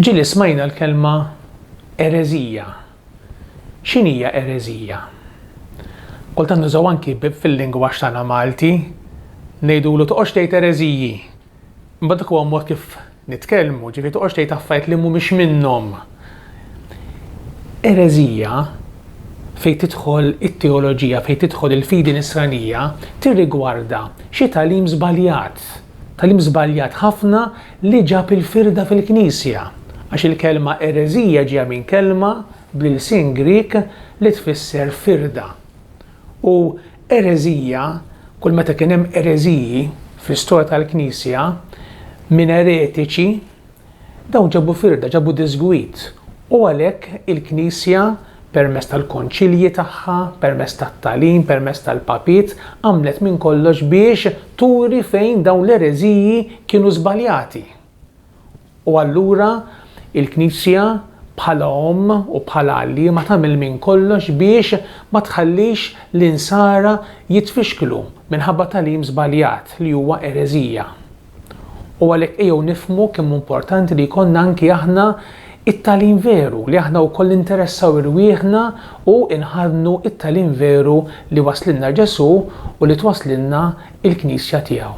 Ġieli smajna l-kelma ereżija. X'inhija ereżija? Kultant nużaw anki fil-lingwaġġ tagħna Malti ngħidulu toqgħodx tgħid ereżiji. Imbagħad dak huwa mod kif nitkellmu, ġifieri toqgħodx tgħid affarijiet li mhumiex minnhom. Ereżija fejn tidħol it-teoloġija, fejn tidħol il-fidi nisranija, tirrigwarda xi tagħlim żbaljat. Tagħlim żbaljat ħafna li ġab il-firda fil-Knisja. Għax il-kelma ereżija ġejja minn kelma bl-ilsien Grieg li tfisser firda. U ereżija, kull meta kien hemm ereżiji fl-istorja tal-Knisja minn eretiċi, dawn ġabu firda, ġabu diżgwid. U għalhekk il-Knisja permezz tal-konċilji tagħha, permezz tat-tagħlim, permezz tal-papiet, għamlet minn kollox biex turi fejn dawn l-ereżiji kienu żbaljati. U allura il-Knisja bħala omm u bħala għalliema tagħmel minn kollox biex ma tħallix l-insara jitfixklu minħabba tagħlim żbaljat li huwa ereżija. U għalhekk ejjew nifhmu kemm hu importanti li jkollna anki aħna t-tagħlim veru, li aħna wkoll ninteressaw irwieħna u nħaddnu t-tagħlim veru li wasslilna Ġesù u li twasslilna l-Knisja tiegħu.